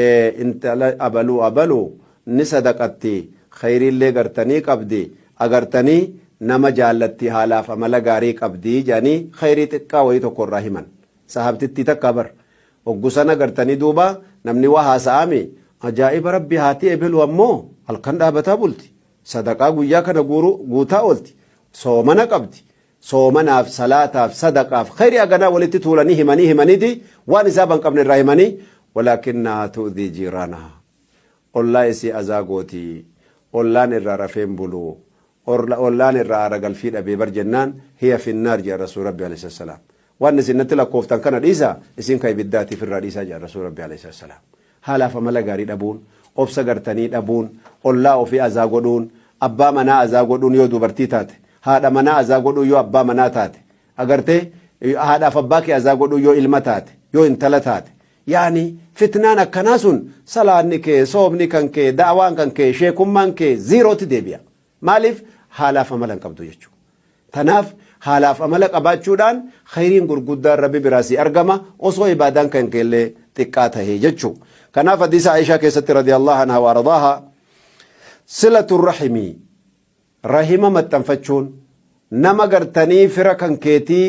ee intala abaluu abaluu ni sadaqatti keyriillee gartanii qabdi agartanii nama jaallatti haalaaf amala gaarii qabdi jedhanii keyrii xiqqaa wayii tokko irraa himan sahaabtittii takkaa bar oggu san agartanii duuba namni waa haasa'aami ajaa'iba rabbi haati ebelu ammoo halkan dhaabataa bulti sadaqaa guyyaa kana guutaa oolti soomana qabdi soomanaaf, salaataaf, sadaqaaf, khayrii haganaa walitti tuulanii himanii himaniti waan hisaaba hin qabne irraa himanii walaakinnahaa tu'dhii jiiraanahaa ollaa isii azaa gooti ollaan irraa rafee hin bulu ollaan irraa aara galfii dhabee bar jennaan hiya finnaar jedha rasuul rabbi alayhi salaam Waan isin natti lakkooftan kana dhiisaa, isin ka ibiddaati ifirraa dhiisaa jedhan Rasuulli Rabbii aleyhi salaatu wassalaam. Haalaaf amala gaarii dhabuun, obsa gartanii dhabuun, ollaa ofii azaa godhuun, abbaa manaa azaa godhuun yoo dubartii taate, haadha manaa azaa godhuun yoo abbaa manaa taate, agartee, haadhaaf abbaa kee azaa godhuun yoo ilma taate, yoo intala taate, yaani fitnaan akkanaa sun salaanni kee, soomni kan kee, da'awaan kan kee, sheekummaan kee zeerootti deebi'a. Maaliif? Haalaaf amala hin qabdu jechuudha. Tanaaf haalaaf amala qabaachuudhaan khayriin gurguddaan Rabbi biraa sii argama osoo ibaadaan kan keellee xiqqaa tahee jechuu. Kanaaf hadiisa Aishaa keessatti radiyallahu anha wa ardaaha silatu rahimii rahima maxxanfachuun nama gartanii fira kan keetii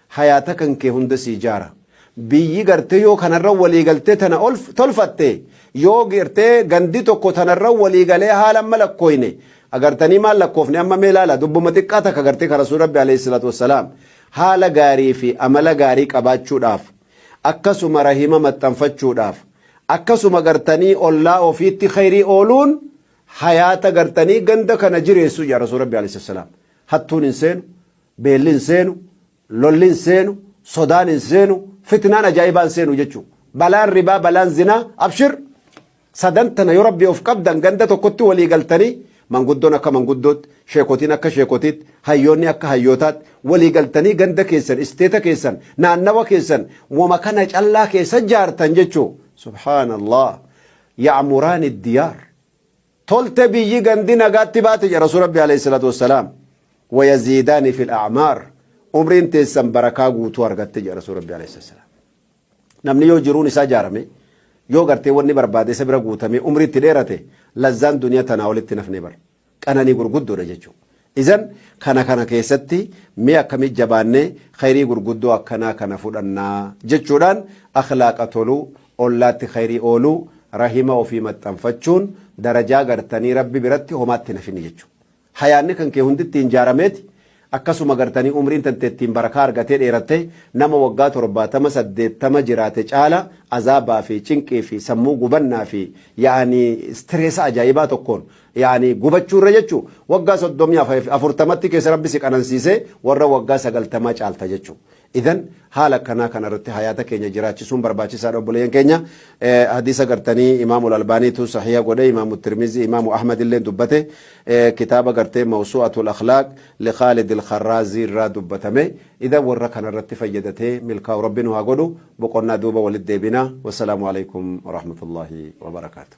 Hayaata kan kee hunda sii jaara. Biyyi gartee yoo kanarra walii galtee tana tolfatte, yoo gartee gandi tokko tanarra walii galee haala amma lakkooyne, agartanii maal lakkoofne amma mee laala dubbuma xiqqaa takka gartee ka Rasuul Rabbi aleyhi salaatu wassalaam haala gaarii fi amala gaarii qabaachuudhaaf, akkasuma rahima maxxanfachuudhaaf, akkasuma gartanii ollaa ofiitti kheyrii ooluun hayaata gartanii ganda kana jireessu jedha Rasuul Rabbi aleyhi salaatu wassalaam. Hattuun hin seenu, Beelli hin seenu, lolli hin seenu, sodaan hin seenu, fitnaan ajaa'ibaa hin seenu jechuudha. Balaan ribaa, balaan zinaa, abshir! Sadan tana yoo Rabbii of qabdan ganda tokkotti walii galtanii manguddoon akka manguddootti, sheekotiin akka sheekotiitti, hayyoonni akka hayyootaatti walii galtanii ganda keessan, isteeta keessan, naannawa keessan wama kana callaa keessa jaartan jechuudha. Subhaanallaah! Ya'muraani diyaar. Tolte biyyi gandi nagaatti baate jedha Rasuul Rabbii Aleyhi Salaatu Wassalaam. Wayaziidaani fil a'maar. Umriin teessan barakaa guutuu argatte jedha Rasuul Rabbii Aleyhi Salaatu Wassalaam. Namni yoo jiruun isaa ijaarame yoo gartee wanni barbaade isa bira guutamee umrii itti dheerate lazzaan duniyaa tanaa olitti hin hafne bar. Qananii gurguddoodha jechuudha. Izan kana kana keessatti mee akkamitti jabaannee khayrii gurguddoo akkanaa kana fudhannaa? jechuudhaan akhlaaqa tolu, ollaatti khayrii oolu, rahima ofii maxxanfachuun darajaa gartanii Rabbi biratti homaatti hin hafinni jechuudha. Hayaanni kan kee hundi ittiin jaarameeti akkasuma gartanii umriin tantee ittiin barakaa argatee dheerattee nama waggaa 70, 80 jiraate caala azaabaa fi cinqii fi sammuu gubannaa fi ya'anii stress ajaa'ibaa tokkoon Yaani gubachuu irra jechuu waggaa soddomii afurtamatti keessa rabbi si qanansiisee warra waggaa sagaltamaa caalta jechuu idhan haala akkanaa kana irratti hayaata keenya jiraachisuun barbaachisaadha obboleeyyan keenya hadiisa gartanii imaamul albaaniitu sahiha godhe imaamu tirmizii imaamu ahmad illeen dubbate kitaaba gartee mawsu'atul akhlaaq li khaalidil kharraazii irraa dubbatame Idan warra kanarratti fayyadatee milkaa'u rabbi nu haa godhu boqonnaa duuba walit deebina wassalaamu aleykum warahmatullahi wabarakatuh.